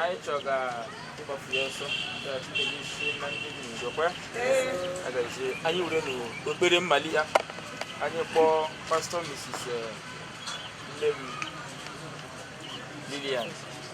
anyị chọga ịgbafu ya ọsọ anyị were n'ekpere malie ya anyị kpọọ pastọ misis nne m Lilian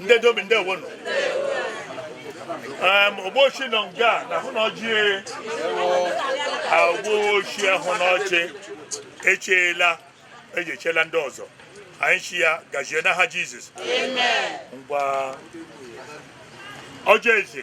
ndị dobi ndị ewonu ụbọchị nọ nga na hụ na ọjị ụbọchị ahụ na ọjị echeela eji echela ndị ọzọ anyị shị ya gazie n'aha jizọs ngwa ọjị eze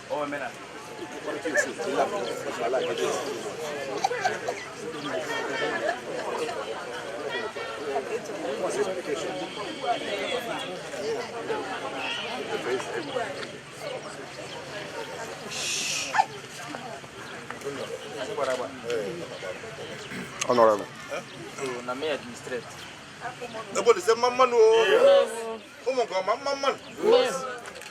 Honorable. Na me administrate. Ebo ni se mamman o. Omo go mamman.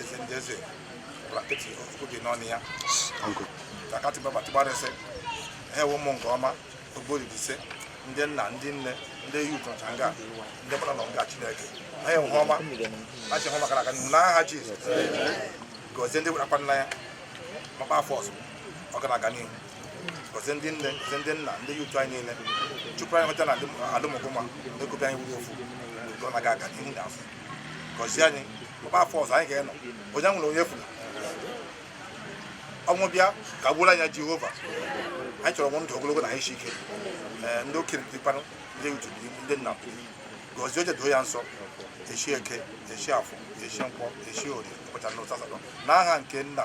eze ndị eze bụla nkịtị oge n'ọnụ ya takatị baba tịgbarịsị ha ewe ụmụgụma God bless ndị nna ndị nne ndị yi ụtọ nga ndị gbara na nga chineke ha ewe ọma ha chi hụ maka na aka n'ihu n'aha jizọs gọzie ndị werakwa nna ya maka afọ ọzọ ọ ga na-aga n'ihu gọzie ndị nne gọzie ndị nna ndị yi ụtọ anyị niile chụpụ anyị hụta na ala ụmụgụma na-ekobi anyị wuru ofu ka ọ na-aga aga n'ihu na afọ gọzie anyị ọ bịa afọ ọzọ anyị ga-enọ onye nwere onye furu ọnwụ bịa ka gbula anyị jehova anyị chọrọ inwe ndụ ogologo na anyị isi ike ee ndị okenye dịkwanụ ndị otu ndị nna gọzie ọjị doo ya nsọ echi eke echi afọ echi nkwọ echi orie ụbọchị anọ asatọ n'aha nke nna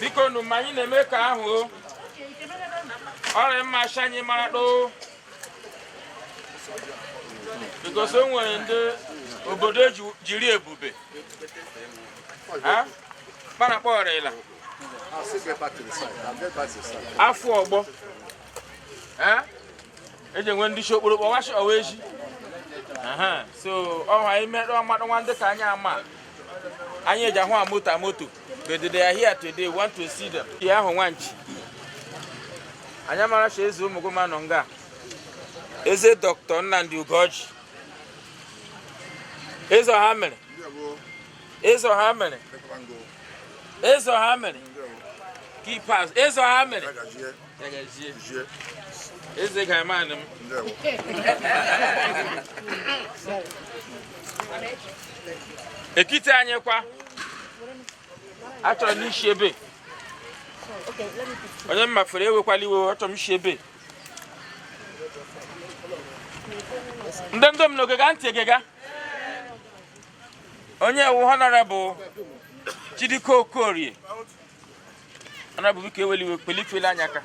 biko nu mgbe anyị na-eme nke ahụ ọ rị mma shị anyị mara doo because o nwere ndị obodo eji- jiri ebube ha kpara kpọrịla afọ ọgbọ eji enwe ndị shi okporo kpọwachi ọwa echi so ha imerụ mmadụ nwa ndị ka anyị ama anyị eji ahụ ha moto moto but they are here today want to see them ihe ahụ nwanchi anyị amara shị eze ụmụgụma nọ nga eze dọkịta nnamdị ugorji eze ọha mere eze ọha mere eze ọha mere kipas eze ọha mere eze ka eme anị n'ekiti anyị kwa achọrọ m isi ebe onye m mafere ewekwala iwe achọrọ m isi ebe ndị ndom nọ egega ntị egega onye wu honorable Chidiko Okorie honorable biko ewela iwe bilie fele anyị aka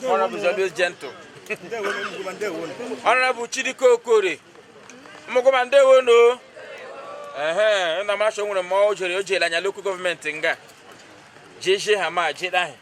honorable is always gentle honorable Chidiko Okorie ụmụgụma ndewo no ehe nna m achọ nwere mmụọ o jere o jere anyị lokal gọọmenti nga jeje ha ma jeda ha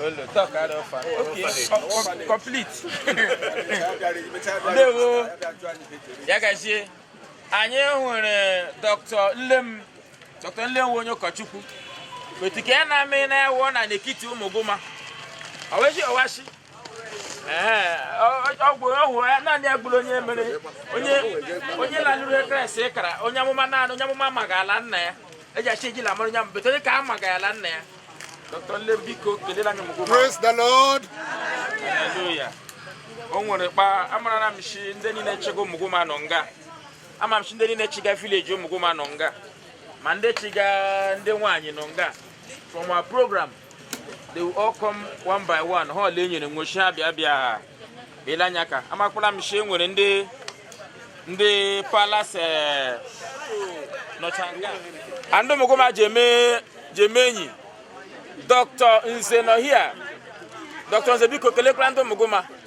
Olo, talk out of far. Okay, complete. Ndewo. Ya gazie. Anyị hụrụ Dr. Nlem, Dr. Nlem onye ụkọchukwu. Otu ka ya na-amị na-ewu na n'ekiti Ụmụgụma. Ọweshi ọwashi. ọgwụ ọhụrụ ya naanị agbụrụ onye mere onye onye lanụrụ ekresi kara onye amụma naanị onye amụma ma ga-ala nna ya eji achị ejila mara onye mbete onye ka a ma ga-ala nna ya dr nlem biko kelela anyị mgbe praise the lord haleluya o nwere kpa amara m shi ndị niile chịga ụmụgụma nọ nga ama m shi ndị niile chịga vileji ụmụgụma nọ nga ma ndị chịga ndị nwaanyị nọ nga from our program they will all come one by one ha ole nyere nwochi ha bịa bịa bịala anyị aka amakwala m shi nwere ndị ndị palas eh, nọcha nga a ndị ụmụgụma ji eme ji eme enyi dr nze nọ hia dr nze biko kelekwara ndị ụmụgụma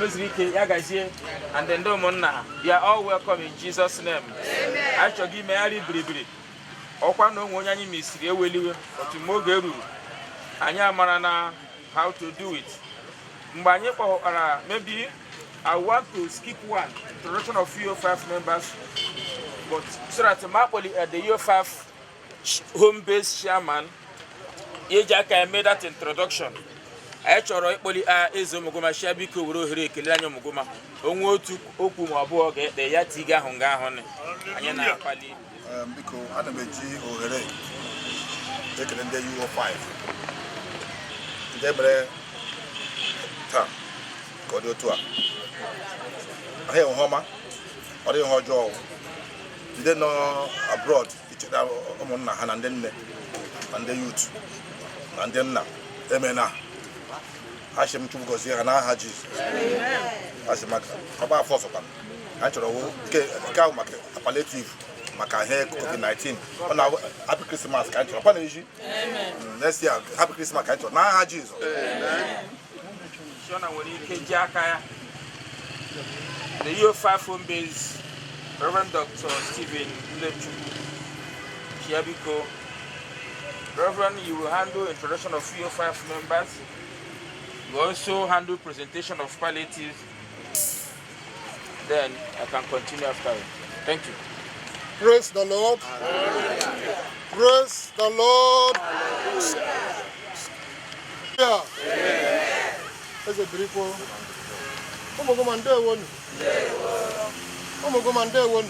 meziri ike ya gazie and ndị ụmụnna you are all welcome in Jesus name anyị chọghị imegharị biribiri ọkwa na o nwee onye anyị misiri ewela iwe but mgbe oge ruru anyị amara na how to do it mgbe anyị kpọkwara maybe I want to skip one introduction of UO5 members but so that ma akpọli the UO5 home based chairman ya eji aka eme that introduction anyị chọrọ ịkpọli a eze ụmụgụma shi ya biko were ohere kelee anyị ụmụgụma o nwee otu okwu ma ọ bụ abụọ ga-ekpe ya tiga ahụ nga ahụ anyị na-akpọli biko ana m eji ohere ekele ndị UO5 ndị mere taa ka ọ dị otu a anyị enwe ọma ọ dịghị ihe ọjọọ ndị nọ abroad icheta ụmụnna ha na ndị nne na ndị yut na ndị nna emena ashị m chukwu gọzie ha n'aha jizọs ashị m ka ọ gbaa afọ ọzọkwa ha chọrọ wo nke nke ahụ maka paletiv maka ihe covid-19 ọ na happy krismas ka anyị chọrọ kwa na eji next year happy krismas ka anyị chọrọ n'aha jizọs So na o nwere ike ji aka ya na the UO5 home based Reverend Dr. Stephen Ilechukwu ya biko Reverend you will handle introduction of UO5 members you also handle presentation of palliatives Then I can continue after you. Thank you. Praise the Lord. Hallelujah. Praise the Lord. Hallelujah. Eze birikwo. Ụmụguma ndewonu. Ụmụguma ndewonu.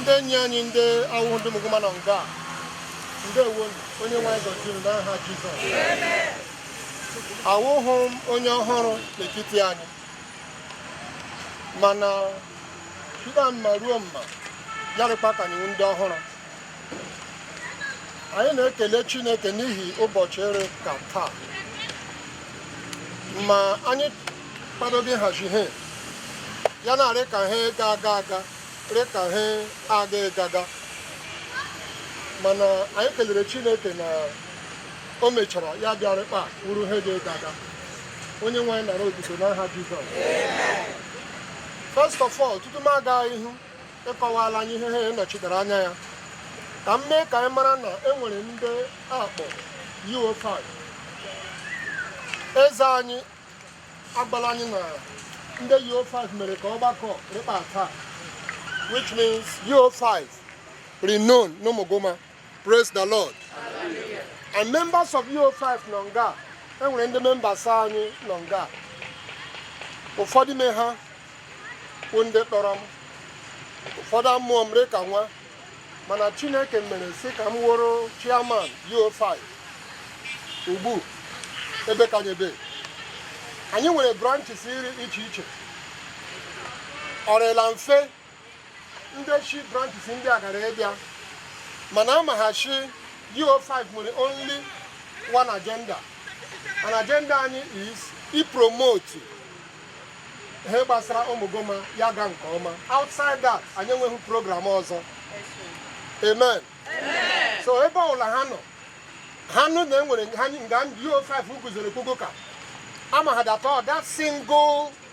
Ndị enyi anyị ndị awụhụ ndị Ụmụguma nọ nga. Ndewonu. Onye nwe anyị gọzie unu n'aha Jizọs. Awụhụ m onye ọhụrụ n'ekiti anyị. mana site mma ruo mma ya rịkpa ka anyị wụ ndị ọhụrụ anyị na-ekele Chineke n'ihi ụbọchị rị ka taa ma anyị kwadoghị hazi ihe ya na-arị ka ihe ga-aga aga rị ka ihe aga ịga aga mana anyị kelere Chineke na o mechara ya bịa rịkpa wụrụ ihe ga-ịga aga Onye nwe anyị nara otito n'aha Jizọs first of all tutu m aga ihu ịkọwara anyị ihe ha nọchitara anya ya ka m mee ka anyị mara na e nwere ndị a kpọ UO5 eze anyị agbala anyị na ndị UO5 mere ka ọgbakọ rịkpa taa which means UO5 renowned n'Ụmụguma Praise the Lord. And members of EO5 nọ nga enwere ndị members anyị nọ nga ụfọdụ ime ha bụ ndị kpọrọ m ụfọdụ amụọ m rị ka nwa mana Chineke mere sị ka m wụrụ chairman EO5 ugbu ebe kanyebe anyị nwere branches iri iche iche ọ rịla mfe ndị shi branches ndị a gara ịbịa mana amagha shi UO5 nwere only one agenda and agenda anyị is ipromote ihe gbasara Ụmụguma ya gaa nke ọma outside that anyị enweghị program ọzọ amen so ebe ọbụla ha nọ ha nụ na enwere nga UO5 guzoro kpogo ka ama ha datọ that single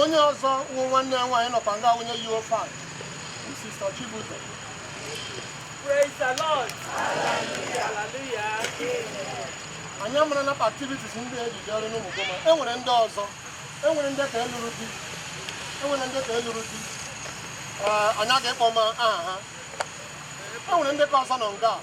onye ọzọ wụ nwanne ya nwaanyị nọkwa nga onye yi efe a Sister Chibuzo Praise the Lord Hallelujah anyị amara na activities ndị ejije ọrụ n'Ụmụguma e nwere ndị ọzọ e nwere ndị ka elụrụ di e nwere ndị ka elụrụ di anyị aga ịkpọ ma aha ha e nwere ndị ka ọzọ nọ nga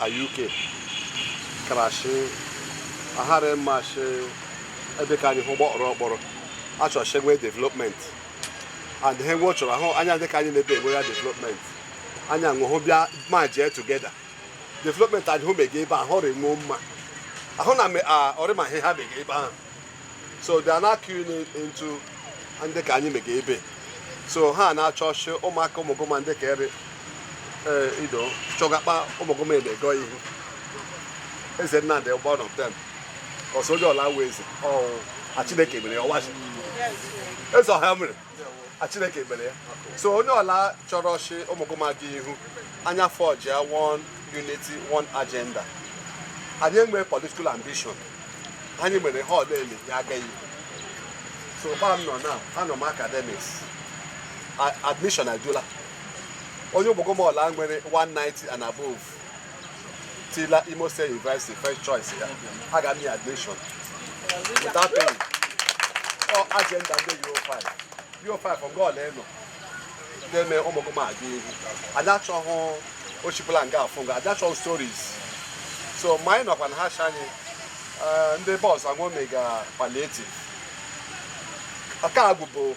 a UK karashi ahara mmashi ebe ka anyị hụ gbọrọ ọkpọrọ achọrọ shi nwee development and he nwe chọrọ ahụ anya dị ka anyị na-ebe enwe ya development anya nwụhụ bịa merge together development anyị hụ mega ebe ahụ ọ rị nwuo mma ahụ na ọ rị mma ihe ha mega ebe ahụ so they are now keying into ndị ka anyị mega ebe so ha na-achọ sị ụmụaka ụmụgụma ndị ka ere ido chọgakpa ụmụgụma na-aga ihu eze nnamdị ụgbọ nọ tem so onye ọla wụ eze ọ a chineke mere ya ọwachi eze ọha mere Chineke mere ya so onye ọla chọrọ sị ụmụgụma gaa ihu anyị afọjia one unity one agenda anyị enwee political ambition anyị mere ha ọla ele ya agaghị so gba m nọ na anọ m academics admission adula onye ụmụgụma ọla nwere 190 and above tila Imo State University first choice ya a ga mee admission without paying ọ agenda ndị yo 5 yo 5 ọgọ ole nọ na-eme ụmụgụma aga ihu anyị achọghị ochibụla nga afụ nga anyị achọghị stories so ma anyị nọkwa na ha cha anyị eh, ndị bọs anwome ga palliative nke a bụbu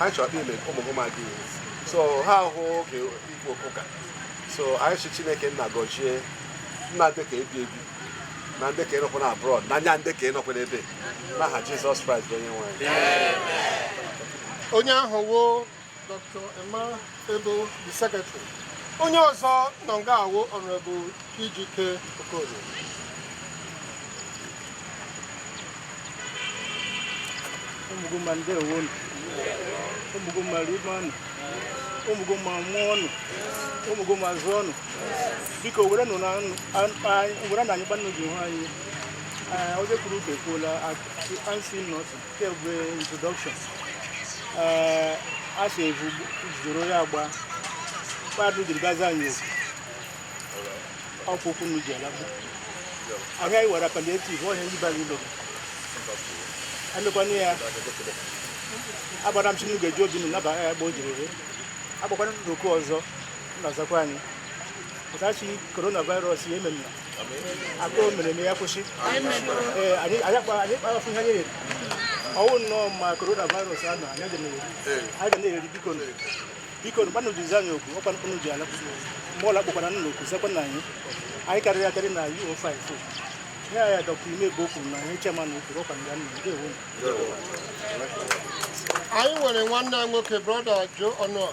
anyị chọrọ kpe ime ụmụ ụmụ gị so ha ahụ oge ikwu okwu ka so anyị sị chineke nna gọzie nna ndị ka ebi ebi na ndị ka nọkwa na abroad na ya ndị ka nọkwa n'ebe n'aha jizọs kraịst bụ onye nwe anyị onye ahụ wụ dr emma ebe the secretary onye ọzọ nọ nga a wụ honourable ejike okorie ụmụgụma ndeewonụ ụmụgụma ribanụ ụmụgụma mụọnụ ụmụgụma zụọnụ biko were nụ na nụ were na anyị gbanụ ji hụ anyị onye kwuru uke kwuola ansi nọtụ kemgbe introduction ee a sị evu jidoro ya agba mmadụ jiri gwazi anyị okwu ọkwụkwụ nụ ji alagbu ahịa anyị wara palliative ọhịa ndị bara ụlọ emekwana ya agbara m si n'oge ji obi nụ naba ya agba o jiri ere agbakwana n'oke ọzọ na-azakwa anyị pụtachi coronavirus ya ememna akụrụ mere na ya kwụsị ee anyị anyị akpa anyị kpara fụ ihe anyị riri ọwụ nnọọ ma coronavirus a na anyị ga na-eri anyị ga na-eri biko nụ biko nụ gbanụ jizi anyị okwu ọkwa mkpụrụ ji ala mgbe ọla kpọkwara nna okwu sekwa na anyị anyị karịrị akarị na uro 5 ihe a ya dọkta ime bụ okwu na ihe chema na okwu ọkwa nga nna ndeewo anyị nwere nwanne anyị nwoke brother joe ọnụọha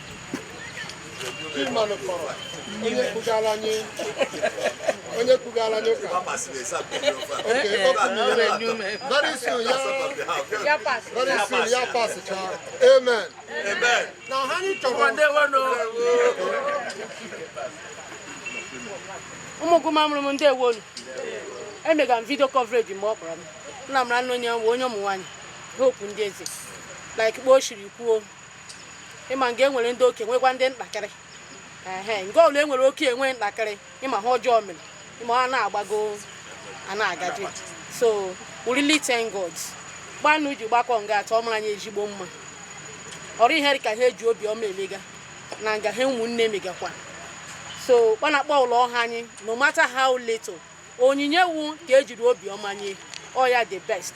onye kwugara anyị onye kwugara anyị ụka very soon ya very soon ya pasịcha amen na ha anyị chọrọ ụmụ gụma mụrụ m ndị ewonu emega m video coverage mgbe ọ kpọrọ m nna m na nna onye nwe onye ụmụ nwaanyị hope ndị eze like kpa o shiri kwuo ịma nga enwere ndị oke nwekwa ndị ntakịrị ehe nga ọbụla enwere oke enwe ntakịrị ịma ha ọjọọ mere ịma ha na-agbago a na-agaji so we really thank God kpa unu ji gbakọ nga taa ọ mara anyị ezigbo mma ọ rịị ihe dị ka nha eji obiọma emega na nga nhe ụmụnne megakwa so kpa na kpa ọla ọ ha anyị no matter how little onyinye wu ka ejiri obiọma nye ọ ya the best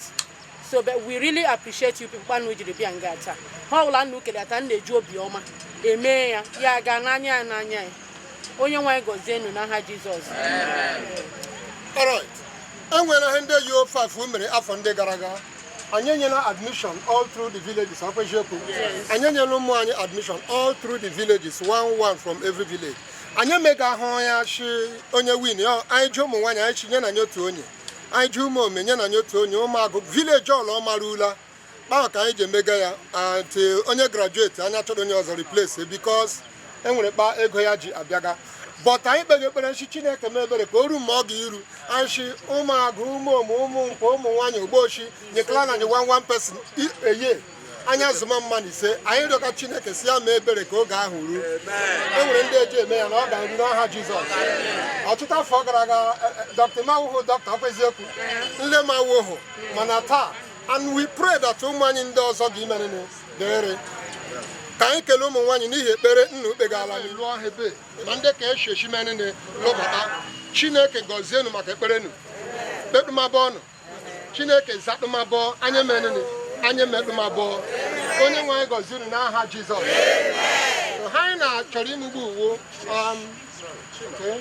so but we really appreciate you people kpa unu jiri bịa nga taa ha ọbụla nna ukele ata nna eji obiọma emee ya ya gaa n'anya ya n'anya ya onye nwe anyị gọzie unu n'aha jizọs Alright. enwere ihe ndị UO5 mere afọ ndị gara aga anyị enyela admission all through the villages ọkwa eziokwu anyị enyela ụmụ anyị admission all through the villages one one from every village anyị emegahụ ya shi onye win anyị ji ụmụ nwaanyị anyị shi nyena anyị otu onye anyị ji ụmụ ome nyena anyị otu onye ụmụ agụ village ọla ọ mara ula kpaa ka anyị ji emega ya ati onye graduate anyị achọrọ onye ọzọ replace because enwere kpa ego ya ji abịaga but anyị kpega ekpere shi chineke mee ebere ka o ruo mgbe ọ ga-iru anyị shi ụmụagụ ụmụ ụmụ ụmụ nkwụ ụmụ nwaanyị ogbochi nyekala na anyị one one person eye anyị azụma mmadụ ise anyị rịọka chineke si ya mee ebere ka oge ahụ ruo e nwere ndị eji eme ya na ọ ga-eru n'aha jizọs ọtụtụ afọ gara aga e, e, dọkịta m awụhụ dọkịta ọkwa eziokwu nle m awụhụ mana taa and we pray that ụmụ anyị ndị ọzọ ga imenene dịrị ka anyị kelee ụmụ nwaanyị n'ihi ekpere nna ukpe ga-ala n'iru ọha ebe ma ndị ka eshi eshi menene lụbata chineke gọzie unu maka ekpere unu kpekpemabụ ọnụ chineke zadụmabọ anya menụnụ anya medụmabọ onye nwe anyị gọzi unu n'aha jizọs ha anyị na-achọrọ imugbu uwo um, okay.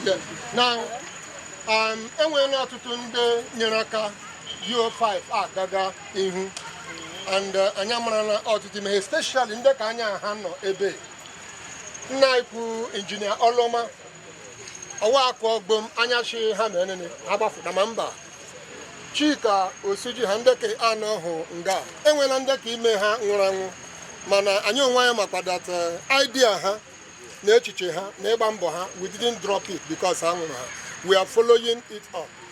Yeah. Now, um, enweela ọtụtụ ndị nyere aka UO5 agaga ihu and uh, anyị amarala ọtụtụ ihe especially ndị ka anya ha nọ ebe nna ikwu injinia ọlụọma ọwa akụ ọgbom anya chi ha na enene ha gbafụta ma mba chika osuji ha ndị ke anọhụ nga enwela ndị ke ime ha nwụrụ anwụ mana anyị onwe anyị makwa that uh, idea ha na echiche ha na ịgba mbọ ha we didn't drop it because ha nwụrụ ha we are following it up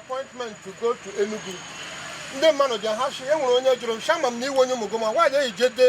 appointment to go to Enugu ndị mmadụ bịa ha si e nwere onye jụrụ shị ama m na ị wụ onye Umuguma nwaanyị eyi jede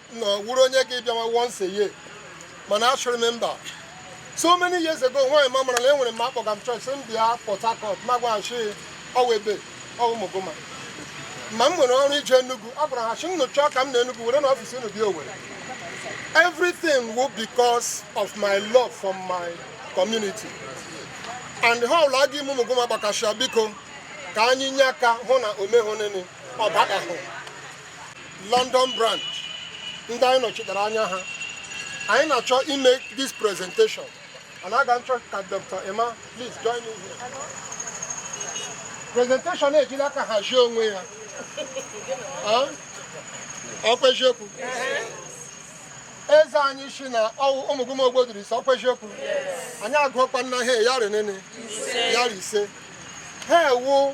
na ọ wụrụ onye ga-abịawa once a year mana achụrụ m mba so many years ago nwaanyị ma mara na e nwere m akpọga m chọọchị m bịa Port Harcourt ma gwaghachi ọwa ebe ọ wụ Umuguma ma m nwere ọrụ ije Enugu a gwara ha shị unu chọọ ka m nọ Enugu were na ọfịs unu bịa Owerri everything will because of my love for my community and ihe ọwụla ga-eme Umuguma gbakasịa biko ka anyị nye aka hụ na o mehụ nene ọbadahụ London branch ndị anyị nọchitere anya ha anyị na-achọ ime this presentation and aga m achọ ka Dr. Emma please join me here presentation ejila aka hazie onwe ya ọkwa eziokwu eze anyị si na ọ wụ Umuguma ogbodiri ise ọkwa eziokwu anyị agụọkwa nna ha ya rinene ya ise ha wụ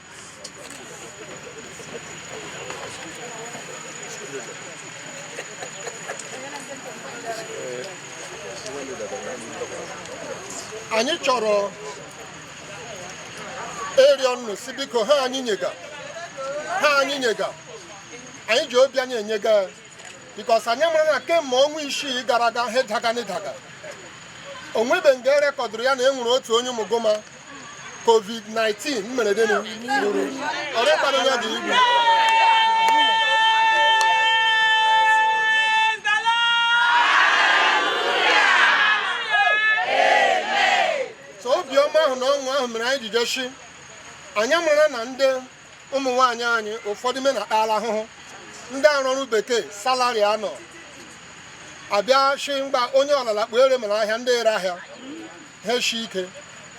anyị chọrọ ịrịọ unu sị biko ihe anyị nyega ihe anyị nyega anyị ji obi anyị enyega ya because anyị mara na kemgbe ọnwa isii gara aga ha daga n'ịdaga o nwebe nga e rekọdụrụ ya na e nwere otu onye Umuguma covid-19 mmerede gburu ọrịa kpara ya dị igbu so obiọma ahụ na ọṅụ ahụ mere anyị ji je shi anyị mara na ndị ụmụ nwaanyị anyị ụfọdụ me na akpala ahụhụ ndị arụ ọrụ bekee salary anọ abịa shi mgbe onye ọlala kpuere mere ahịa ndị ere ahịa ha eshi ike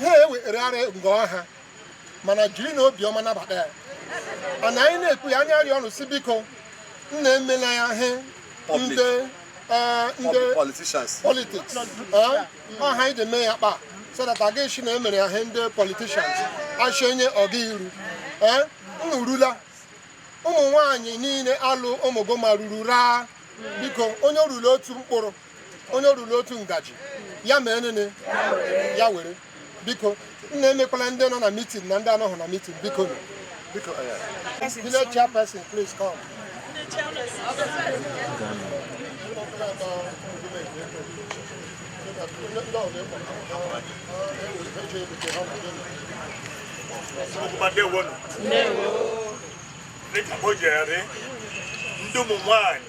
ha ewegharị ngọ ha mana jirinụ obiọma nabata ya and anyị na-ekwu ya anyị arịọ unu si biko nna emela ya he ndị eh, ndị politics eh, ọha anyị ga-eme ya kpa so that a ga-asị na e mere ya he ndị politicians achọ enye ọ ga iru eh, unu rula ụmụ nwaanyị niile ala ụmụguma ruru raa biko onye o rula otu mkpụrụ onye o ruru otu ngaji ya mee nini ya were biko nna emekwala ndị nọ na mitin na ndị anọghị na mitin biko biko village chairperson please come dịka o jere ndị ụmụ nwanyị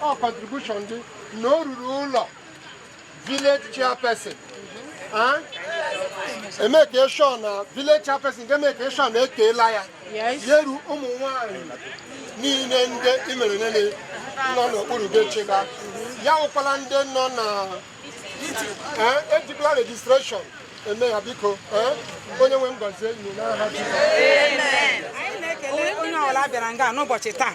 ọ contribution dị na o ruru ụlọ village chairperson emake sure na village chairperson ga-emake sure na e keela ya yeru ụmụ nwanyị niile ndị mere nini nọ n'okpuru gị chịba ya awụkwala ndị nọ na ejikwala registration eme ya biko onye nwe m gọzie anyị n'aha Jizọs onye ọbụla bịara nga n'ụbọchị taa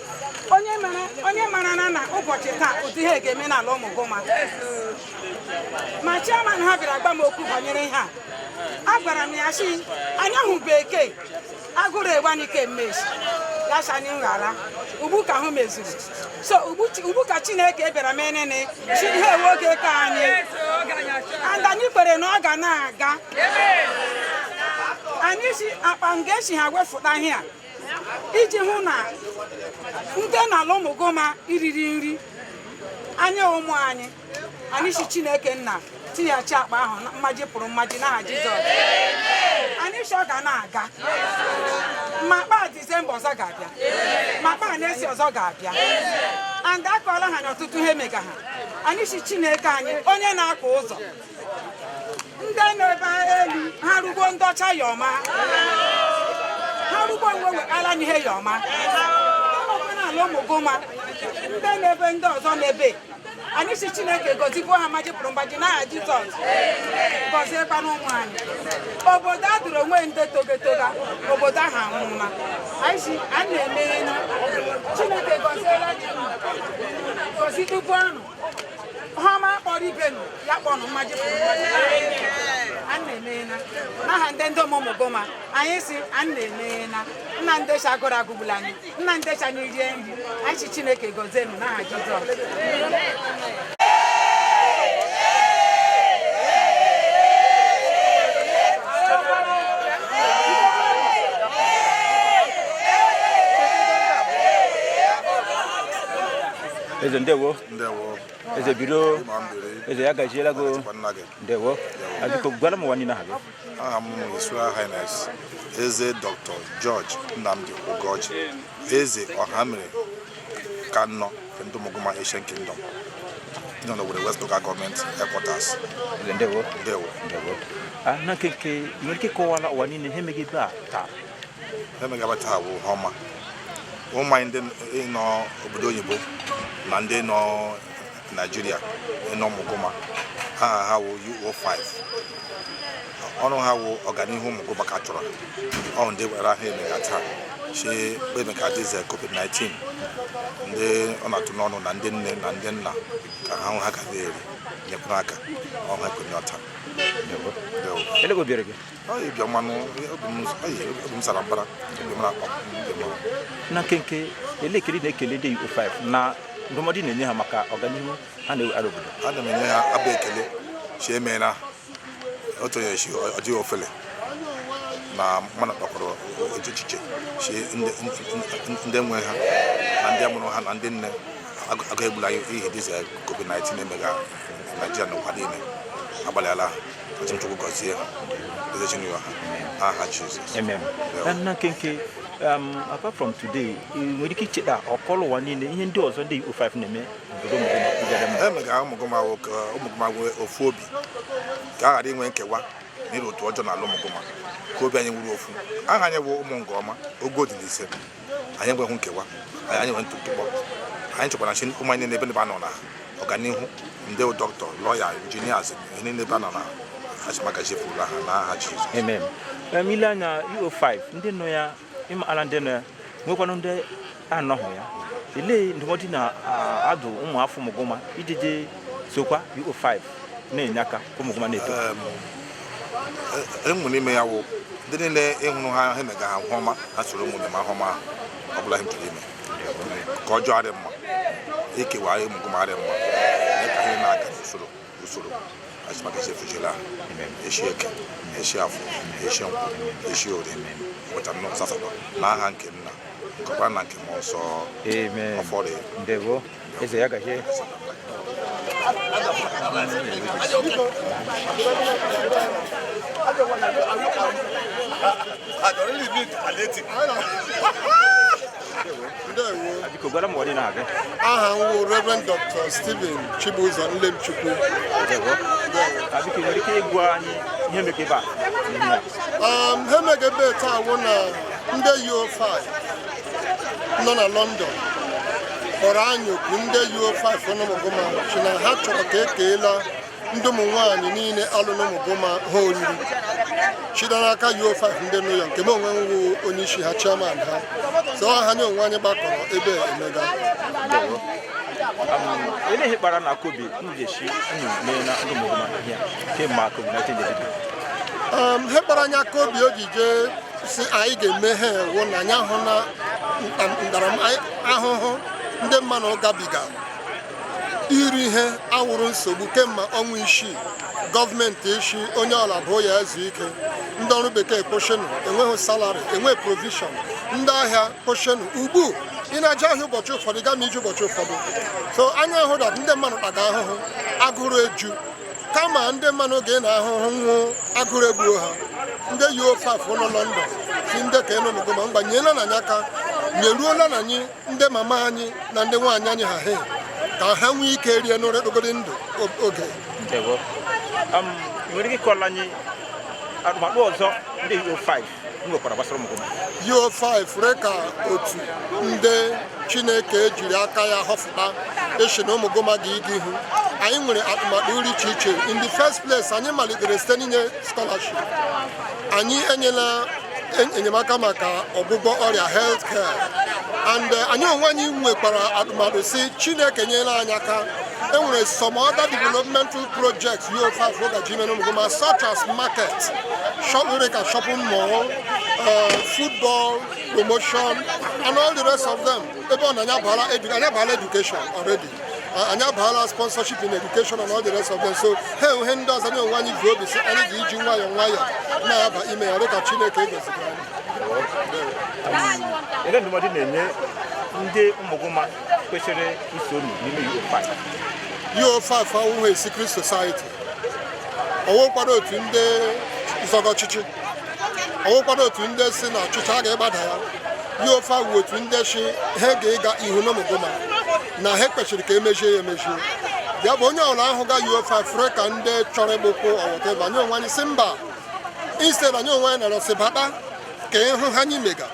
onye mara na na ụbọchị taa ụdị ihe ga-eme n'ala ụmụguma ma chairman ha bịara gwa m okwu banyere ihe a agwara m ya si anya hụ bekee agụrụ egbanike mmechi ya si anyị ghara ugbu ka ahụ mezuru so ugbu ka chineke bịara mee nini chi ihe ewe oge ka anyị and anyị kwere na ọ ga na-aga anyị si akpa nga esi ha wefụta ihe a iji hụ na ndị na ala ụmụguma riri nri anya ụmụ anyị anyị si chineke nna tinyechi akpa ahụ mmaji pụrụ mmaji n'aha jizọs anyị si ọ ga na-aga ma akpa disemba ọzọ ga-abịa ma akpa na-esi ọzọ ga-abịa and akọọla ha n'ọtụtụ ihe mega ha anyị si chineke anyị onye na-akọ ụzọ ndị na-ebe elu ha rugbo ndị ọcha ya ọma ha rugbo nwe wekala n'ihe ya ọma ala ụmụguma ndị na-ebe ndị ọzọ na-ebe anyị si chineke gọzigbuo ha mmaji pụrụ mmaji n'aha jizọs gọziekwana ụmụ anyị obodo a dụrụ onwe ndị togetoga obodo ahụ anwụma anyị si a na-emeghe chineke gọziela gọzidugbuo unu ihe ọma kpọrọ ibe nụ ya kpọnụ mmaji pụrụ mmaji ụnụ emeela n'aha ndị ndị ụmụgụma anyị sị ụnụ emeela na ndị sị agụrụ agụgbula anyị na ndị sị anyị rie nri anyị sị chineke gọzie ụnụ n'aha jizọs eze ndewo eze biro eze ya gaziela gị ndewo biko gwara ụwa niile aha gị aha m His Royal Highness eze Dr. George Nnamdi Ugorji eze Ọhamere nke anọ of Ụmụgụma Ancient Kingdom nọ n'Owerri West Local Government Headquarters ndewo ndewo ah, na nkenke ị nwere ike kọwara ụwa niile ihe mega ebe a taa ihe mega ebe a taa wụ ihe ọma ụmụ anyị ndị nọ obodo oyibo na ndị nọ naijiria nọ ụmụgụma aha ha wụ UO5 ọrụ ha wụ ọganihu ụmụgụma ka ha chọrọ ọ ndị gwara ha emega taa sị maka disease covid-19 ndị ọ na-atụ n'ọnụ na ndị nne na ndị nna ka ha hụ ihe ha ga-eri nyekwara aka ọha ekwenye ọta Ele go bere gị. na nkenke ele ekele ị na-ekele ndị UO5 na ndụmọdụ ị na-enye ha maka ọganihu ha na-ewetara obodo ana m enye ha abụ ekele sị emeela otu onye sị ọ dị ofele na mmadụ kpakwara echiche sị ndị nwe ha na ndị mụrụ ha na ndị nne agụụ egbula ihe disease covid-19 emega naijiria na ụwa niile agbalịala ha Otu Chukwu gọzie ha, eze Chinua ha, aha Jizọs. Amen. Na na nkenke um, apart from today ị nwere ike icheta kọọlụ ụwa niile ihe ndị ọzọ ndị UO5 na-eme obodo mmadụ na-akụgara mmadụ. Ihe mega ụmụgụma wụ ka ụmụgụma nwee ofu obi ka a ghara inwe nkewa na ịrụ otu ọjọọ n'ala ụmụgụma ka obi anyị wụrụ ofu aha anyị bụ ụmụgụma ogo dị n'ise anyị enweghị nkewa anyị enweghị ntụpọ anyị chọkwara nsi ụmụ anyị n'ebe n'ebe ha nọ na ọganihu ndị dọkịta lọya injinias ihe niile ebe ha nọ na azụmagazi efuola ha na aha Jizọs Amen. Um, i lee anya UO5 ndị nọ ya ịma ala ndị nọ ya nwekwanụ ndị anọghị ya ile ndụmọdụ ị na-adụ ụmụ afọ ụmụgụma ijije sokwa UO5 na-enye aka ụmụgụma na-eto enwe n'ime ya wụ ndị niile hụrụ ihe ha emega ha ihe ọma ha soro meema ihe ọma ọ bụla ha chọrọ ime nke ọjọọ adịghị mma ikewa ụmụgụma adịghị mma mee ka ha na-aga n'usoro usoro maka esi efujela esi eke esi afọ esi nkwọ esi orie ụbọchị anọ asatọ na aha nke nna nke ọkpara na nke mmụọ nsọ ọfọdụ eze ya gajee aha m wụ Reverend Dr. Stephen Chibuzo Nlemchukwu biko nwere ike ịgwa anyị ihe mege ebe a ihe mege ebe taa wụ na ndị UO5 nọ na London kpọrọ anyị oku ndị UO5 nọ n'Ụmụgụma si na ha chọrọ ka ekeela ndị ụmụ nwaanyị niile a lụrụ n'Ụmụgụma he oriri shita n'aka UO5 ndị nọ ụyọ nke mụ onwe m wụ onye isi ha chairman ha so he anyị onwe anyị gbakọrọ ebe emega ele ihe kpara unu aka obi unu ji shi unu meela ndị Ụmụgụma ihe kemgbe covid 19 he kpara anyị aka obi o ji jee si anyị ga-eme he a wụ na anyị ahụna ntaramahụhụ ndị mmanụ gabiga iri ihe awụrụ nsogbu kemgbe ọnwa isii gọọmenti eshi onye ọla bụ ya ezu ike ndị ọrụ bekee kwụshịanụ enweghị salari enweghị provishọn ndị ahịa kwụshịanụ ugbu ị na-eje ahịa ụbọchị ụfọdụ gaa ma ije ụbọchị ụfọdụ so anyị ahụ that ndị mmadụ taga ahụhụ agụrụ eju kama ndị mmanụ ga na ahụhụ nwụ agụrụ egbuo ha ndị UO5 nọ London si ndị ka nọ n'Ụmụgụma gbanyela nụ anyị aka nyeruola nụ anyị ndị mama anyị na ndị nwaanyị anyị ha he ka ha nwee ike rie nri dịgide ndụ oge nwere ike ịkọla anyị atụmatụ ọzọ ndị UO5 nwekwara gbasara Ụmụgụma UO5 fure ka otu ndị chineke jiri aka ya họfụta isi na Ụmụgụma ga ịga ihu anyị nwere atụmatụ rị iche iche in the first place anyị malitere site n'inye scholarship anyị enyela en- enyemaka maka ọgwụgwọ ọrịa health care and eh, anyị onwe anyị nwekwara atụmatụ si chineke nyela anyị aka e nwere some other developmental projects you have for the ime n'Ụmụgụma, such as market, shop, fure ka shopping mall, uh, football promotion, and all the rest of them. Ebe ọ na anyị abaala edu- anyị abaala education already. Uh, anyị abaala sponsorship in education and all the rest of them. So e nwere he ndị ọzọ anyị onwe anyị ji obi si anyị ga iji nwayọọ nwayọọ na-aba ime ya dịka Chineke goziri anyị. Ele ndụmọdụ ị na-enye ndị Ụmụgụma kwesịrị iso unu n'ime UO5 UO5 awụghị secret society ọ wụkwaghị otu ndị zọga ọchịchị ọ wụkwaghị otu ndị si na ọchịchị a ga-egbada ya UO5 wu otu ndị si he ga-ịga ihu n'Ụmụgụma na he kwesịrị ka e mezie ya e mezie ya bụ onye ọla ahụga UO5 fure ka ndị chọrọ ịgbụkwụ ọwụta ebe anyị onwe anyị si mba instead anyị onwe anyị nọrọ si bata ka ị hụ ihe anyị mega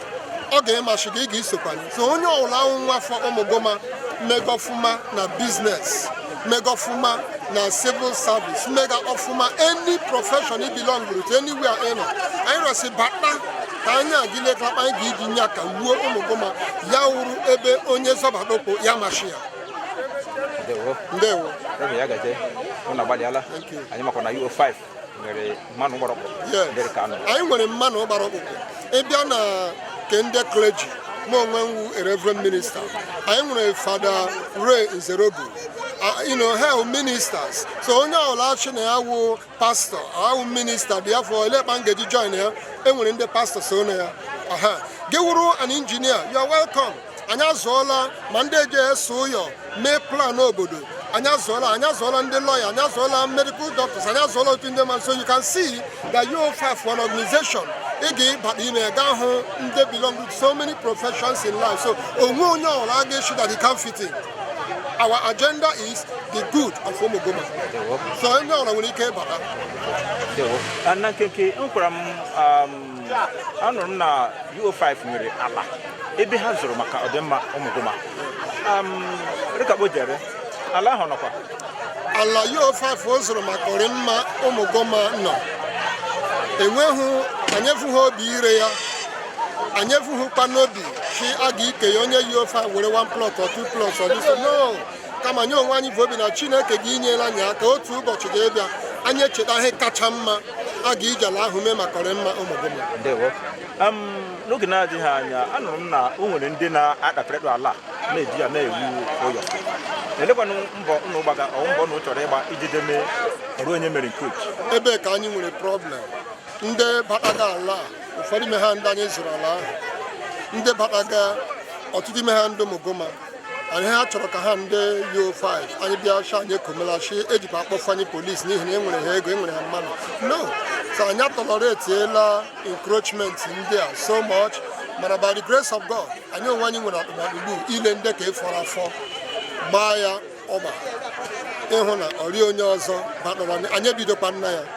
ọ ga-emasị gị ị ga-isokwa anyị so onye ọwụla wụ nwa afọ ụmụguma mega ọfụma na business mega ọfụma na civil service mega ọfụma any profession ị belong to anywhere ị nọ anyị arịọ sị bata ka anyị agile elekpa anyị ga-eji nye aka wuo ụmụguma ya wụrụ ebe onye zọbata ọkpa ya masị ya ndewo ndewo ebe ya gazie ụnụ agbalịala Thank you. anyị makwa na UO5 anyị nwere mmadụ gbara ọkpụrụkpụ ị bịa na nke ndị clergy mụ onwe m wụ reverend minister anyị nwere Father Ray Nzereogu you know ha wụ ministers so onye ọwụla asị na ya wụ pastor wụ minister therefore elekpa m ga-eji join ya e nwere ndị pastor so na ya gị wụrụ an engineer you are welcome anyị azụọla ma ndị eji ese ụyọ mee plan obodo anyị azụọla anyị azụọla ndị lawyer anyị azụọla medical doctors anyị azụọla ọtụtụ ndị mmadụ so you can see that you have an organization ị ga-ịbata ime ga-ahụ ndị belong to so many professions in life so o nweghị onye ọwụla a ga-asị that you can't fit in our agenda is the good of Umuguma so onye ọwụla nwere ike ịbata na nkenke kọwaara m um, anụrụ m na UO5 nwere ala ebe ha zụrụ maka ọdịmma ụmụguma rị ka kpa o jere ala ahụ nọkwa ala UO5 zụrụ maka ọdịmma ụmụguma nọ o nweghị anyị evughị obi ire ya anyị evughịkwa n'obi sị a ga-ike ya onye UO5 were 1 plot or 2 plot or this no kama anyị onwe anyị vu obi na chineke ga-inyere anyị aka otu ụbọchị ga-ebịa anyị echeta ihe kacha mma a ga-iji ala ahụ mee maka ọdịmma ụmụguma n'oge na-adịghị anya anụrụ m na o nwere ndị na-akpakọrịta ala na-eji ya na-ewu ụyọ elekwanụ mbọ ụnụ gbaga ọ wụ mbọ ụnụ chọrọ ịgba iji deme ọrụ onye mere nke otu ebe ka anyị nwere problem ndị bataga ala ụfọdụ ime ha ndị anyị zụrụ ala ahụ ndị bataga ọtụtụ ime ha ndị ụmụguma anyị ha chọrọ ka ha ndị UO5 anyị bịa sị anyị ekomelachi ejikwa akpọfụ anyị police n'ihi na enwere ha ego enwere ha mmadụ no so anyị atolerateela encroachment ndị a so much mana by the grace of God anyị onwe anyị nwere atụmatụ ile ndị ka ịfọrọ afọ gbaa ya ogba ịhụ na o rịghị onye ọzọ batara anyị ebidokwana ya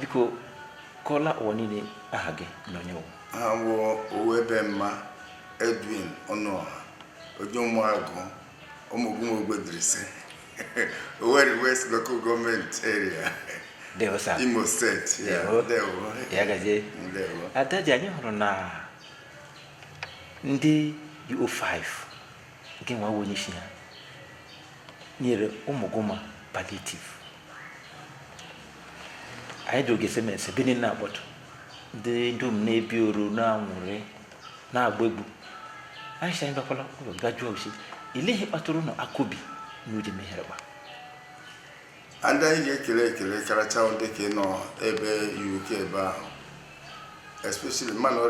biko kọọra ụwa niile aha gị na onye ị wụ aha m wụ owebe mma edwin ọnụọha onye ụmụagụ ụmụguma ogbedirisi Owerri West Local Government Area Ndewo sir. Imo State yeah, Ndewo. Ndewo. ya gazie Ndewo. adaji anyị hụrụ na ndị UO5 nke nwa bụ onye isi ha nyere Umuguma palliative anyị dị oge semese ebe niile na-akpọtụ ndị dum na-ebi oro na-aṅụrị na-agba egwu anyị sị anyị bịakwala ụlọ bịa jụọ osi ileghị kpatụrụ nọ akụbi na ude mehere gba ndị anyị ga-ekele ekele karacha wụ ndị ke nọ ebe uk ebe ahụ especially manụ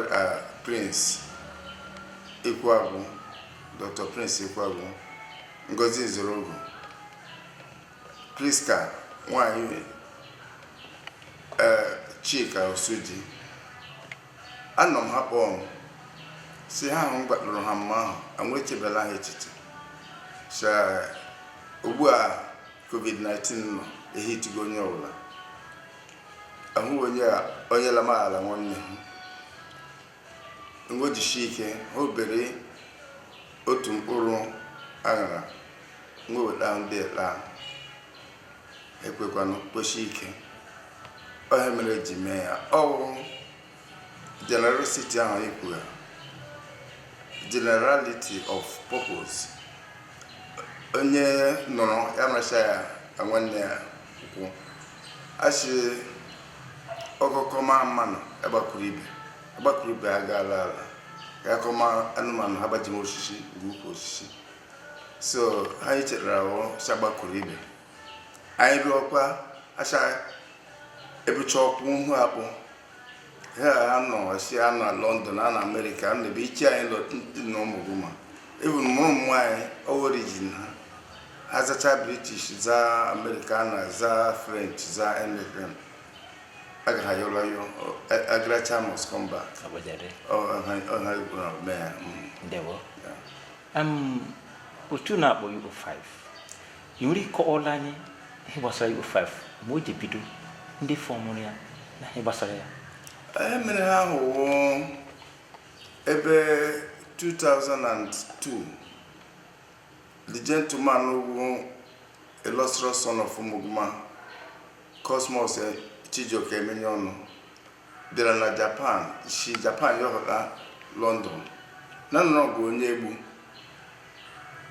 prince ikwuagwu dr prince ikwuagwu ngozi nzorogu prisca nwanyị chika osuji Anọ m ha kpọọ m sị ha ahụ m gbakpụrụ ha mma ahụ anwụ echebela ha echiche sị ugbu a covid-19 nọ ehitigo onye ọbụla ahụ onye a onye lamaghara nwanne ha nwejisi ike ha obere otu mkpụrụ aṅara nweweta ndị ekpe ahụ ekwekwanụ kwesie ike ọ ihe mere eji mee ya ọ wụ generosity ahụ ekwuga generality of purpose onye nọrọ ya racha ya na nwanne ya kwụ achị ọkọ kọma manụ agbakwuru ibe agbakwuru ibe agaala ala ya kọma anụmanụ ha gbaje osisi ga ukwu osisi so ihe anyị chere wụ sị agbakwuru ibe anyị rụọkwa acha ebucha ọkwụ ihu akpụ ha a nọ sị a nọ na london a nọ america a nọ ebe iche anyị lọ ndị na Umuguma even ma ụmụ anyị origin ha azacha british za american za french za american aga ha ayọrọ ayọ agaracha must come back otu a na-akpọ U5 ị nwere ike kọọrọ anyị ihe gbasara U5 mgbe o ji bido ndị fọmụrụ ya na ihe gbasara ya ihe mere ahụ wụ ebe 2002 the gentleman wụ illustrious son of Umuguma Cosmos Chijioke Emenyeonu bịara na Japan si Japan yọhụta London na nọrọ be Onyegbu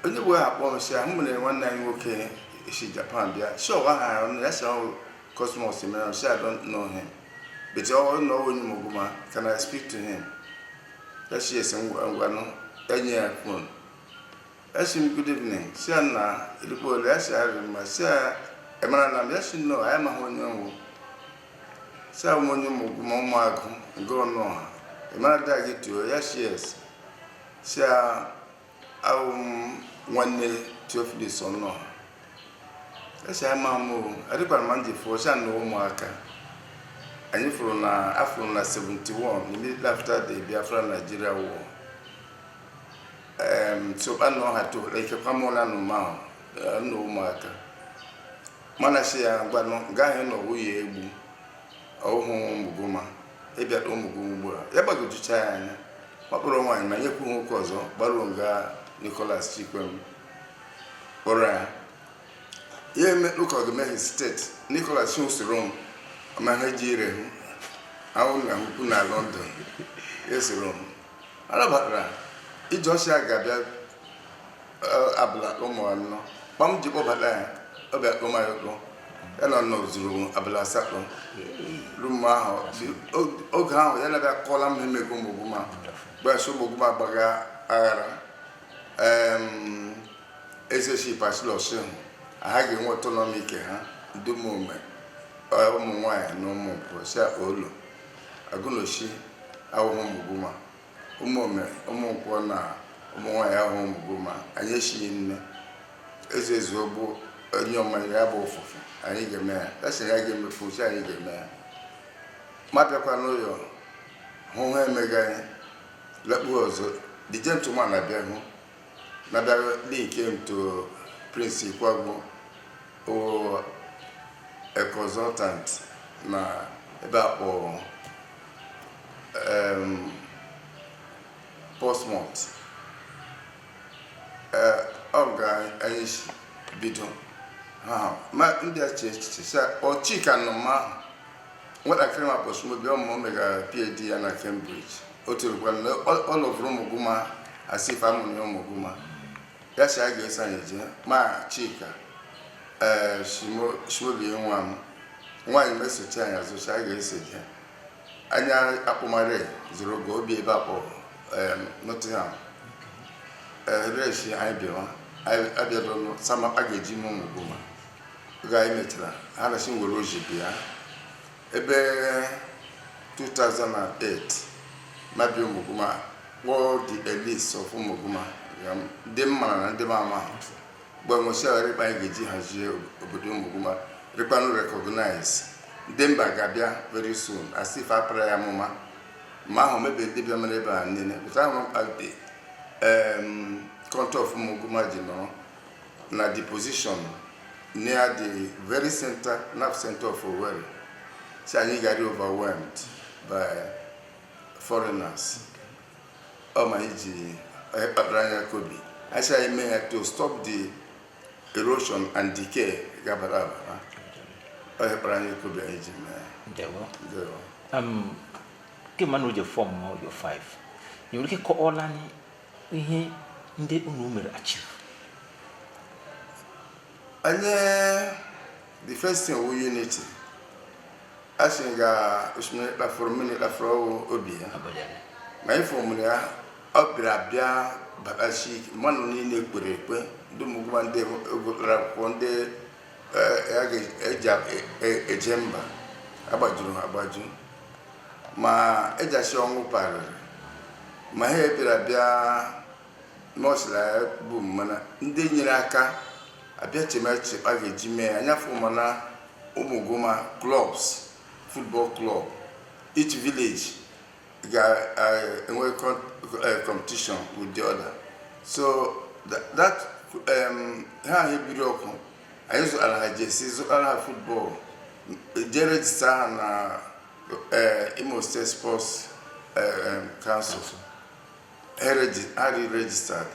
Onyegbu a kpọrọ sị ahụ mere nwanne anyị nwoke si Japan bịa sị ọ wụ aha ọnụ ya sị ọ wụ Cosmos m asị I don't know him but ọ wụ onye Umuguma can I speak to him ya sị yes ngwanụ enye ya phone Esi m good evening si ya na erikpo ole ya si ya riri mma si ya ị marana m ya si no ya amaghị onye m wụ si ya m onye Ụmụgụma Ụmụagụ nke Ọnụọha ị mara dee gị Theo ya si yes si ya awụ m nwanne Theophilus Ọnụọha ya si ya ma m o adịkwara m ndị fụọ si ya na ụmụaka anyị fụrụ na afụrụ na 71 immediately after the Biafra Nigeria war soba na ọha tola ikekwa m ụla na ụma ahụ na ụmụaka mana si ya ngwanụ nga anyị nọ nwunye egbu ọhụụ Ụmụgụma ị bịara Ụmụgụma ugbu a ya gbagwojucha ya anya ọ kpọrọ nwaanyị ma nyekwu nwoke ọzọ gbaruo nga Nicholas Chikwem kpọrọ ya ya eme ụka ọgụmehi steeti Nicholas esoro m ma ha ji ire hụ ahụ na ukwu na London esoro m A nabatara iji ọsị a ga-abịa eh, abụla ụmụ anọ kpam ji kpọbata ya ọ bịa kpọma ya ụkpọ ya na nọ zuru abụla asatọ ru mgbe ahụ dị- o- oge ahụ ya na-abịa kọọra m ihe mega Ụmụgụma gbasị Ụmụgụma agbaga aghara em, eze si pass law si hụ ha ga-enwe autonomy nke ha ndị Ụmụome eh, Ụmụnwaanyị na Ụmụnkwọ si akpa ụlọ Agunoshi awụhụ Ụmụgụma, ụmụome, ụmụnkwọ na Ụmụnwaanyị awụhụ Ụmụgụma, anyị echighị nne. Eze ezuo bụ onye ọmanya ya bụ ụfụfụ, anyị ga-eme ya. Esi na ya ga-emefu uche, anyị ga-eme ya. Ma bịakwa n'ụlọ, hụ ha mega anyị, lekpuo ọzọ. The gentleman abịa hụ, na-abịa dị nke nto Prince Ikwagu. o a consultant na ebe a kpọrọ um, Portsmouth ee ọ nga anyị si bido ha ha. ma ndị a che echiche sị ọchị ka nọ ma ahụ nwatakịrị m a kpọ Shimobi ọ ma o mega PhD ya na Cambridge o tirukwara na ọ lọvụrụ ụmụgụma as if a mụrụ ya ụmụgụma ya si ya ga-eso anyị jee ma chika ee shimobi nwa m nwaanyị mesochi anyị azụ si ya ga-eso jee anyị akpụmare zuru nga o bi ebe a kpọ nottingham reshi anyị bịawa abịadonụ summer aga eje m Ụmụgụma oge anyị mechara ha na si were oji bịa Ebe 2008 m abịa Ụmụguma kpọọ the elites of Ụmụguma ndị m mara na ndị m amaghị mgbe nwesịara kpa anyị ga-eji hazie obodo Ụmụguma rịkpanụ recognize ndị mba ga-abịa very soon as if a para ya amụma ma ahụ mebe ndị bịa mere ebe a niile pụta hụ kpa the contour of Ụmụguma ji nọrọ na the position near the very center nerve center of Owerri sị anyị ga-arị overwhelmed by foreigners ọ ma anyị ji onye kpakpara anya kobi anyị sị anyị mee ya to stop the erosion and decay gabara abara onye kpara anya kobi anyị ji mee ya ndewo Ndewo. um, kemgbe na oje form yo 5 ị nwere ike kọọla anyị ihe ndị unu mere achieve anyị the first thing wu unity a sị nga osimiri kpafuru mmiri kpafuru ọ wụ obi ya abanyere ma anyị formụrụ ya ọ bịara abịa batasi ike mmadụ niile kpere ekpe ndị Ụmụguma ndị gụtara akwụkwọ ndị eh, ya ga- eji a- e- eje mba agbajuru ha agbaju ma ejasi ọnwụ parịrị ma ha bịara bịa n'ọsịrị ya bụ mana ndị nyere aka abịa chemechie kpa a ga-eji mee ya anyị aform na Ụmụguma clubs football club each village ga-enwe competition with the other so tha- that um, ha ahụ ebiri ọkụ anyị zụtara ha jersey zụtara ha football jee register ha na Imo State Sports Council ha rị registered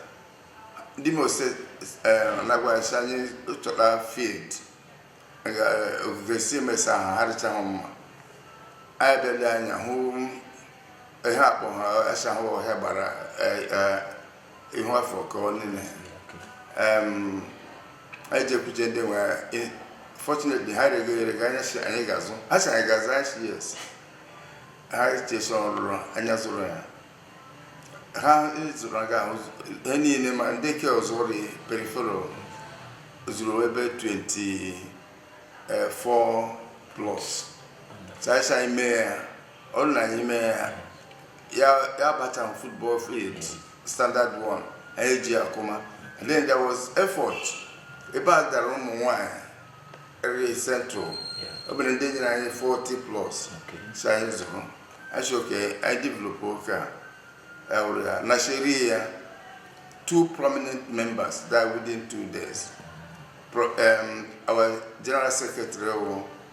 ndị Imo State na-agwa sị anyị chọta field ogige si emesa ha ha rịchaghị mma anyị bịa lee anya hụ ihe a kpọ ha achahụ ọhịa gbara ihu afọ ka ọ niile Em, anyị jekwuje ndị nwe ya. Eh, fortunately ha regere ka anyị sị anyị ga-azụ ha sị anyị ga-azụ anyị sị yes ha chesa ọrụrụ anyị azụrụ ya ha zụrụ nga ahụ ihe niile ma ndị ke ọzọ rị peripheral zuru ebe 24 plots so anyị sị anyị mee ya ọ dị na anyị mee ya ya abata um football field standard one anyị eji akụma and then there was effort ebe a dara ụmụ nwanyị area central ọ bụrụ ndị nyere anyị 40 plots so anyị zụrụ achị oke anyị develop oke a ewere ya na sheri ya two prominent members died within two days Pro, um, our general secretary wụ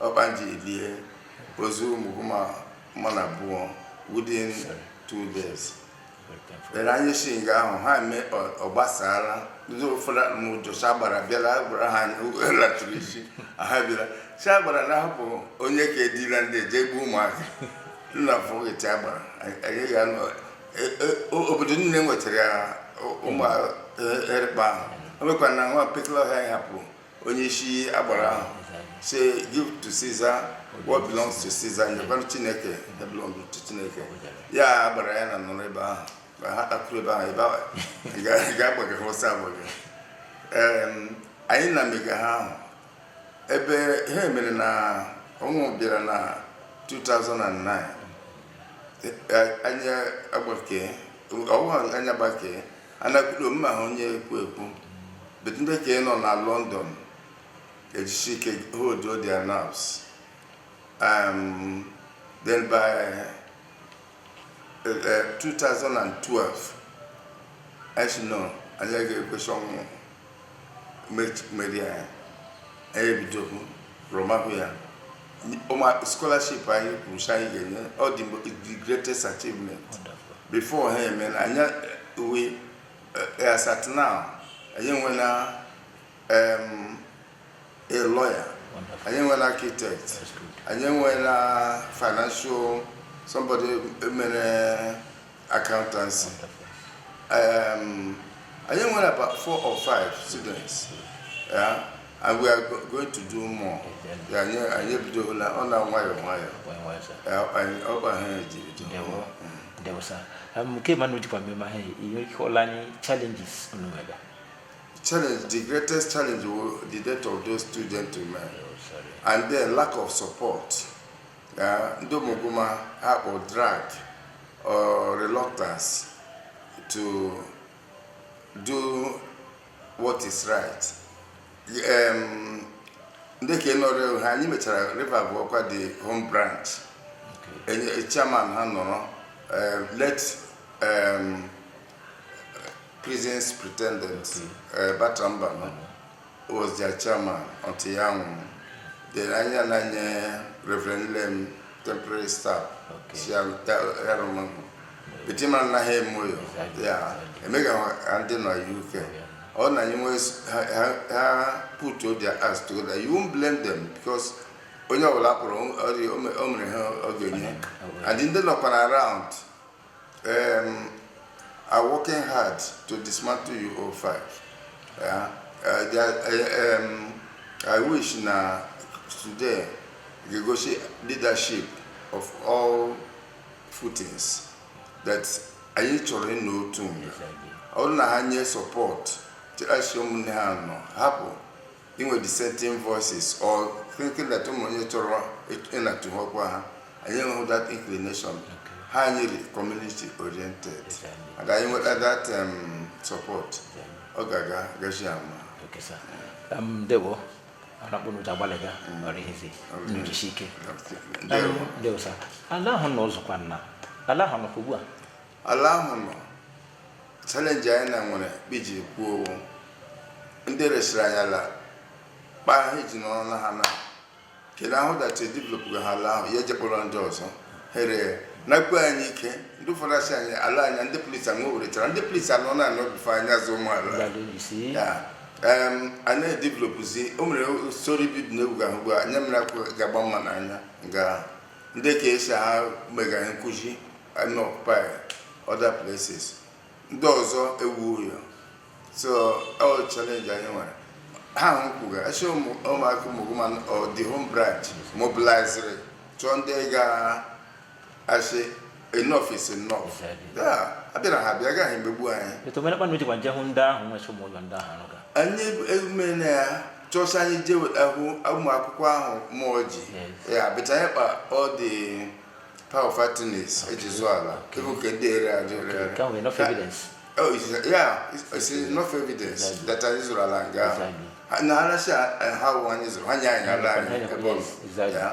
Ọkpanji lie ozu ụmụ mmadụ abụọ within two days then anyị si nga ahụ ha eme ọ- ọ gbasara ndị ụfọdụ mụ jụsa gbara bịara gwara ha anyị latụrụ isi ha bịara sị agbara na hapụ onye ka edila ndị jee gbuo ụmụaka nna fụgịtị agbara anyị- anyị ga-anọ e- e- o- obodo niile nwetara ya ụmụ erịkpa ahụ o mekwa na nwa mpekele ọhịa anyị hapụrụ onye isi agbara ahụ sị give to Caesar what belongs to Caesar nyekwanụ Chineke that belong to Chineke ya agbara ya na nọrọ ebe ahụ ma ha takwuru ebe ahụ ebe ahụ ga-agbaga ha ọsọ agbaga anyị na-emega ihe ahụ bụ ihe mere na o wee bịara na 2009 anyị agbake ọwụwa anyị agbake anakwudo mma ha onye ekwu ekwu but ndị nke anyị nọ na london ejisi ike hold all their nerves um, then by uh, uh, 2012 anyị sị no anyị ga-ekwe sị ọnwụ merie anyị anyị ebidokwa rụma ya ụmụ scholarship anyị kwuru sị anyị ga-enye ọ dị mgbe the greatest achievement before ha eme na anyị uwe eh, as at now anyị enwela em, a lawyer anyị enwela architect anyị enwela financial somebody mere accountancy. Um, I think we about four or five students. Yeah, and we are go- going to do more. Yeah, anyị anyị ebidola ọ na nwayọọ nwayọọ. Yeah, anyị ọ bụ ahụ e ji bido. Ndewo. ndewo sir um, nke ma na ojikwa mmemme ahụ ị nwere ike ịkọrọ anyị challenges unu nwere Challenge, the greatest challenge was the death of those students to man, and then lack of support. ndị omogoma ha kpọ drag or reluctance to do what is right ndị ka nọrọ ha anyị mechara river bụ ọkwa the home branch chairman ha nọrọ late prison superintendent batamba nọ was their chairman until ya nwụrụ then anyị ananye reverend lem temporary staff Okay. sị ya ya rụma but ma nna ha eme oyo Exactly. ya emega ha ndị nọ uk ọ na anyị nwee s- ha- ha- ha put all their acts together you won't blame them because onye ọbụla pụrụ ọ dị- o me- o mere ihe ọ ga-enye and ndị nọkwara around Um, are working hard to dismantle you all five. Yeah? Uh, they are, uh, um, I wish na today ga-egosi leadership of all footings that anyị chọrọ ịnọ otu mgbe ọ bụrụ na ha nye support chịrasị ụmụnne ha nọ hapụ inwe dissenting voices or thinking that ụmụ onye chọrọ ịnatụ ha ọkwa ha anyị enweghị that inclination ha anyị dị community oriented and anyị nweta that um, support ọ ga-aga gachi ama Okay, sir. Um, Ndewo, anakpọ n'ụjọ agbalịga ọrụ ihe zi n'ijisi ike. Ndewo. Um, Ndewo, sir. Ala ahụ nọzikwa nna. Ala ahụ nọkwa ugbu a. ala ahụ nọ challenge anyị na nwere iji kwuo ọ wụ ndị resịrị anyị ala kpa ha iji nọrọ na ha na kedu ahụ dachi developụga ha ala ahụ ya ejekpọrọ ndị ọzọ here nakwe anyị ike ndị ụfọdụ asị anyị ala anya ndị police anwe weretara ndị police anọ na anọ bife anyị azụ ụmụala a na-edevelopụzi o nwere storey building ị ga-ahụ ugbu a anya mmiri akwụ ga-agba mmadụ n'anya nga ndị ka esi ha mega encroach na occupy other places ndị ọzọ ewu ụyọ so ọ challenge anyị nwere ha ahụ kwuga sị ụmụaka Umuguma ọ dị home branch mobiliziri chọọ ndị ga-asị enough is enough Exactly. Yeah, a bịara ha bịa agaghị emegbu anyị etu mere kpana ojikwa nje hụ ndị ahụ nwechi ụmụ ụlọ ndị ahụ anụga anyị emume na ya chọsị anyị jee weta hụ ụmụ akwụkwọ ahụ mmụọ ji Yes. ya bịta anyị kpa ọ dị power of attorneys eji zụọ ala ịbụ nke ndị ere ajụ ere ere. nke ahụ enough Ka- evidence Oh, it's, yeah, it's, it's enough evidence Exactly. that anyị zụrụ ala nga ahụ. Exactly. Ha- na arasị ha wụ anyị zụrụ ha nye anyị ala anyị Yes, ebe ọ nọ. exactly. Yeah.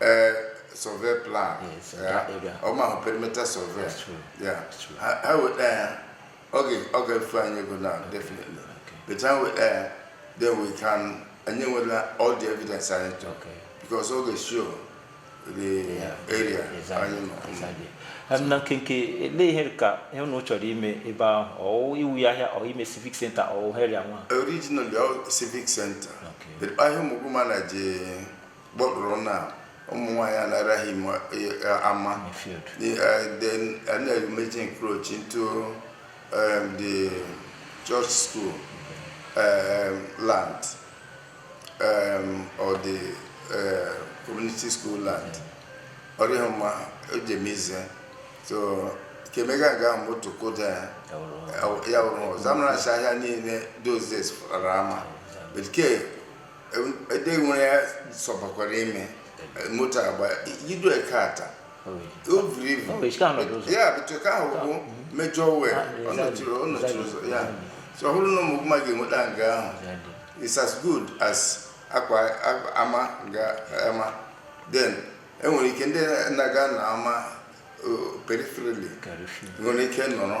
Eh, survey plan Yes, ya. that area. ọ ma hụ perimeter survey That's true. ya That's true. ha ha weta ya ọ ga- ọ ga-efu anyị ego na definitely Okay. but ha weta ya then we can anyị nwela all the evidence anyị chọrọ Okay. because ọ ga-show the Yeah. area Exactly. anyị nọ Exactly. Em, na nkenke olee ihe ka ihe unu chọrọ ime ebe ahụ ọ iwu ya ahịa ọ ime civic center ọ area nwa originally ọ civic center Okay. but ahịa Umuguma na je gbakpụrụ na ụmụ nwaanyị anaraghị m eh, eh, ama in the field. The, uh, then I know you made encroach into um, the church school um, land um, or the uh, community school land. Ọ rịghị mma o ji eme ize. So kemega ga moto koda ya. Ya wụrụ ọrụ. Ya wụrụ ọzọ. Amara ahịa niile those days fara ama. But ke ede nwere ya sọpakwara ime moto agba idu eke ata o buru ibu ya bụtụ ka ahụ bụ major way ọ nọchiri ọ nọchiri ụzọ ya so ọ bụrụ na Ụmụgụma ga-enweta nga ahụ it's as good as akwa ama nga ama then enwere ike ndị na-aga na ama peripherally nwere ike nọrọ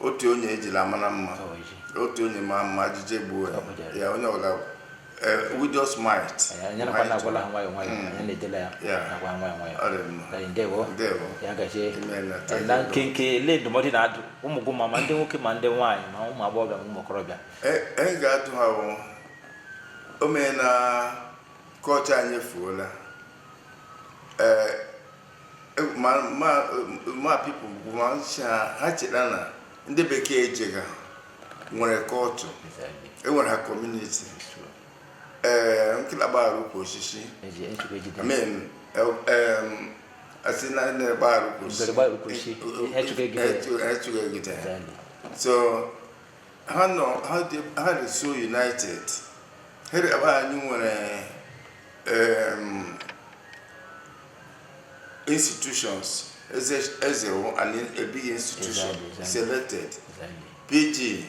otu onye ejila mara mma otu onye ma mma ijiji egbuo ya ya onye ọga widow's mite anyị nakwa na-agwala ha nwayọọ nwayọọ anyị na-edela ya Yeah. nakwa nwayọọ nwayọọ Ọ dị mma. Ee, ndewo Ndewo. ya gazie Imeela. Ee, na nkenke ele ndụmọdụ ị na-adụ ụmụ gị ma ma ndị nwoke ma ndị nwaanyị ma ụmụ agbọghọbịa ma ụmụ okorobịa anyị ga-atụ ha bụ o mee na culture anyị efuola ee ma ma ma people bụ ma ncha ha cheta na ndị bekee echeghị ha nwere kọtụ enwere ha community ee nkịta gbara ukwu osisi I mean asị na ndị gbara ukwu osisi echughị egide ha so ha nọ ha dị ha dị so united ha dị ebe anyị nwere em, institutions eze eze wụ an a big institution Exactly, exactly. selected Exactly. pg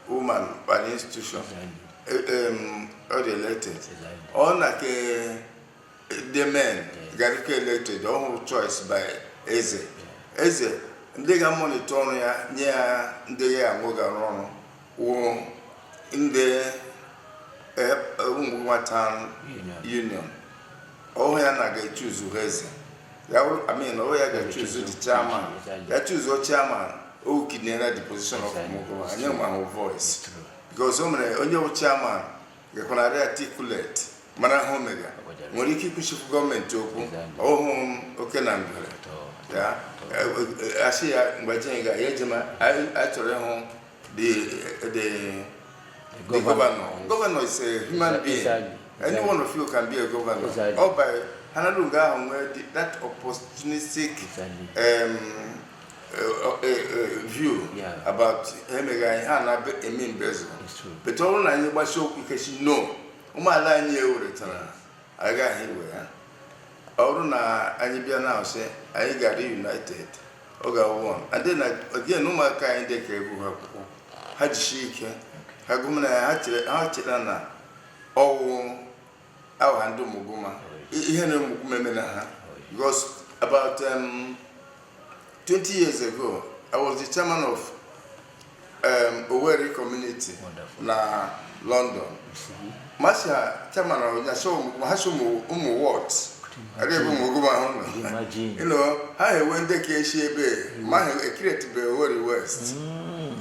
woman bụ an institution Exactly. Eh, em, ọ dị elected Exactly. ọ na ke democratically elected ọ wụrụ choice by eze eze ndị ga-amonitor ọrụ ya nye ya ndị ya anwụ ga-arụ ọrụ wụ ndị Ụmụgụma town union ọ wụ ya na ga-echuzu ha eze ya wụrụ I mean ọ wụ ya ga-echuzu the chairman ya chuzuo chairman o kidnera the position of Ụmụgụma anyị ma hụ voice because o mere onye wụ chairman ga-ekwenarị articulate mara ha omega nwere ike ịkwụchikwu gọọmenti okwu ọhụụ oke na ngwere ya asị ya mgbe jenye ga ya ejema achọrọ ịhụ The, uh, the, the governor. governor. Governor is a human Exactly. being. Exactly. Any Exactly. one of you can be a governor. Exactly. Ọ bụ ha nọdụ nga ahụ nwee the- that opportunistic Exactly. um, uh, uh, uh, view Yeah. about emega anyị ha na eme mbezo. It's true. But ọ bụrụ na anyị gbasi okwu ike sị no, ụmụ ala anyị eweretara agaghị iwe ya. Ọ bụrụ na anyị bịa na sị anyị gara united oge akwụkwọ adị na ọdịna na ụmụaka anyị ndị ka agụgha akwụkwọ ha jishi ike ha gụmara ya ha chere ha chere na ọ wụ ahụ ha ndị ụmụgụma I- ihe na ụmụgụma eme na ha because about um, 20 years ago i was the chairman of um, Owerri community na London masha chairman ọnya so ha so ụmụ ụmụ wọt ebe bụ Umuguma ahụ nọ Imagine. you know ha ewe ndị ka eshi ebe ma ha ekiretube Owerri West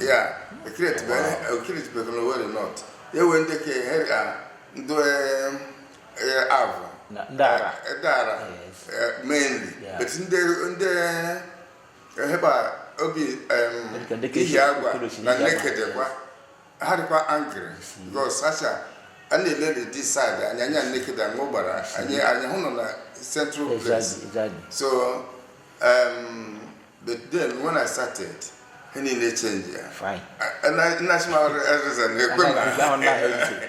ya ekiretube ekiretube na Owerri North ewe ndị ka ha ga ndị um, eh, Avu Na- ndị Ara. Eh, ndị Ara Yes. eh, mainly Yeah. but ndị ndị eheba obi em, Dịka- dịka ihi eji- agwa okoro si na Ihiagwa. Nekedekwa ha dịkwa angry because sacha a na-ele ndị side anyị anya Nekede aṅụ gbara anyị anyị hụ nọ na central place Exactly, exactly. so um, but then when i started ihe niile chenjia Fine. nnachi ma reason na-ekwe Anaghị- ahụ anaghị ntị.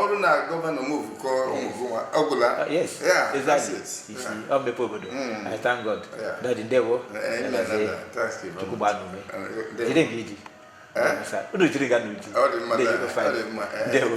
ọrụ na gọvanọ mvukọ Umuguma ọgwụla mmepe obodo i thank god dadi ndewo chukwu gbaa unu ume jide nke i ji unu jiri gaa n'ihu ndewo